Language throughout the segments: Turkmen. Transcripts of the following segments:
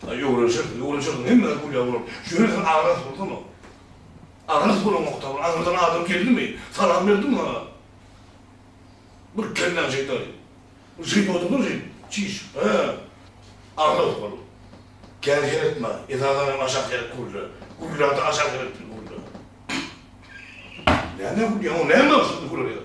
Ýuwrunşyr, ýuwrunşyr, hemmeler gülýär oglum. Ýöne sen agras bolsana. Agras bolaňokda, bir aňyrdan adam geldimi, salam berdiňmi ha? Bir kelläň şeýtaly. Jyn bolduňmy jyn? Çiş, hä? Agras bol. Kän seretme, esasan hem aşak seret gürle. Gürlände aşak seretgil gürle. Näme gülýäň, o näme şuny gürleýär?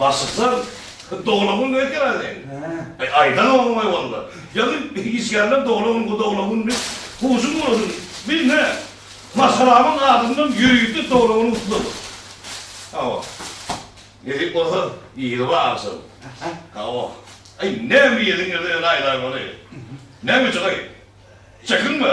Başlyksam, doglan gün nöýt geler sen. He. Aýdan oglan goý onda. Ýaly işgärler doglan gün, bu doglan gün diýip, huşuň bolsun. Biz ne? Maşgalamyň adyndan ýörite doglan güni gutlarys. Hawa. Nesip bolsa, ýygy barşym. Hawa. Aý, näme ýediň ýa-da näme aýlaň ony? Näme içiň aý? Çekinme.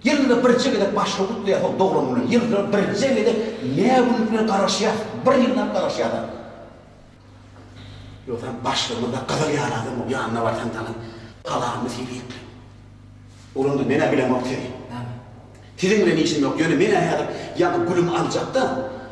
Ýylda birje gezek başga gutlaýarsoň doglan güni, ýylda birje gezek nä güni bilen garaşýas, bir ýyllap garaşýas a. Ýogsam başga munda gyzyl ýaly adamok, ýanyna barsaň dana talaňyny sylap. Bolanda men-ä bilemok sizi. Siziň bilen işim ýok, ýöne men-ä häzir ýaňy gülümi aljakda,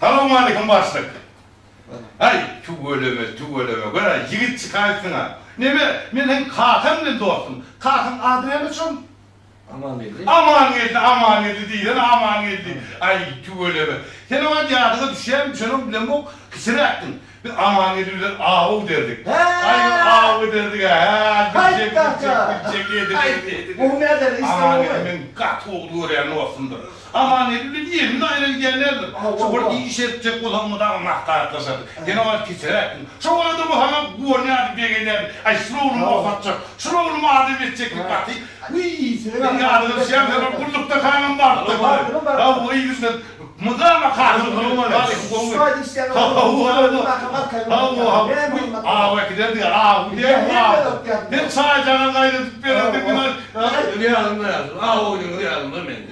Salowmalikim başlyk. Ay tüweleme tüweleme göra ýigit çykaýypsyňa. Neme men seň kakaň bilen dostum. Kakaň ady näme çon? Amangeldi. Amangeldi, Amangeldi diýsene, Amangeldi. Aý, tüweleme. Sen oňa ýadyňa düşýärmi, şonuň bilenok kisiräpdiň. Biz Amangeldi bilen aw ederdik. Aý, bir aw ederdik-ä, hä, gülçek, gülçek, gülçek ederdik. Aý, gowy näderdi, işde gowumy? Amangeldi meniň gaty ogly görýän dostumdyr. Amangeldi bilen Emin aýra gidýärlerdir. Şo bir iş etjek bolanmy dagy maslahatlaşardy. Ýene bar kisiräkdiň. Şo arada bu saňa guwanýardy, begenýärdi. Aý, şul oglum bosatjak, şul oglum adam etjeklik gaty. Wiý, sen ýazgaryşýaň, sen ol gullukda kaňam barypdyr. Hawa, ýigit sen mydama kaşyň gyrylman et. Şuba diýseň, aw äkiderdi, aw diýýärmi, aw. Sen çaý-jaňa gaýnadyp bererdiň, ýazyň-da ýazyň, aw oýnuňyz ýazyň-da mende.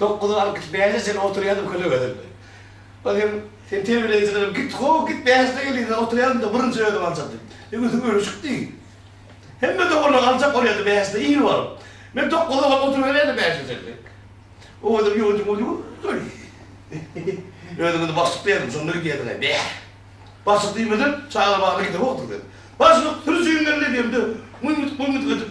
Dokuz alkyş bäşe çenli oturýardym kölegelerimde. Ol hem Sen terbiýeleýjilerem git, how git bäşde gelýärsiň oturýardym-da birinji özüm aljakdy. Bir gün Sen öli çykdy. Hemme doganlar aljak bolýardy bäşde ir baryp. Men dokuza baryp oturyberýärdim bäşe çenli. O gezek ýodym boldy göý. Özüm indi başlyk diýerdim şonda gidýärdiň-aý bäh. Başlyk diýmesem çaga bagly gidibokdyň sen. Başlyk sürüjiň geldi diýemde myň-mytyk myň-mytyk edip.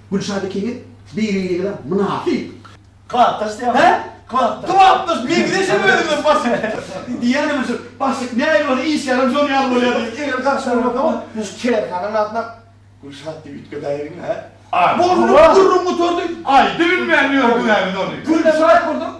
Gülşat ikiňiz bir-biriňize mynasyp. Klapdaş diýýäňmi? Hä? Klapdaş meňzeşem özüňe Basik. Diýýänem şu Basik nähili bolsa iş ýalam şonuň ýaly bolýar diýip eger garşy bolmasam şu kärhananyň adyna Gülşat diýip üýtgedäýeliňmi hä? Boldy gürrüň gutardy. Aý düwünmän ýördüňä biz ony. Gülşat bolsa.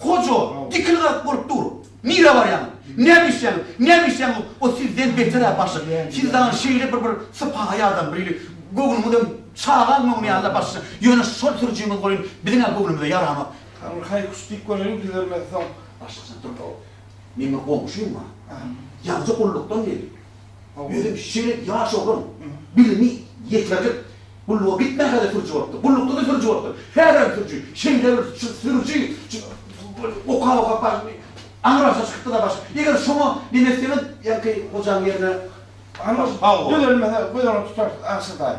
Hoja, dikil-garyk bolup dur. Nirä barýaň? Näme işleýäň? Näme işleýäň? O sizden beter-ä başlyk. Siz dagy şeýle bir bir sypaýy adam, biri göwnüňizem çagaň göwni ýaly-la başlyk. Ýöne şol sürüjiňiz welin biziň-ä göwnümize ýaranok. Hany bir haý-huş diýip göreliň, düzelmezsoň. Başlyk sen dur-la. Meniň bir goňşym bar. Ýazyjy gullukdan geldi. Özem şeýle ýaş oglan, bilimi ýeterlik, gulluga gitmänkä-de sürüji bolupdyr, gullukda-da sürüji bolupdyr, häzirem sürüji, şeýle bir sürüji, oka-oka aňyrasyna çykypdyr-da başga. Eger şoňa neme etseňiz, ýaňky gojaň ýerine düzelmese, göz öňünde tutarsyň, agşa daýy.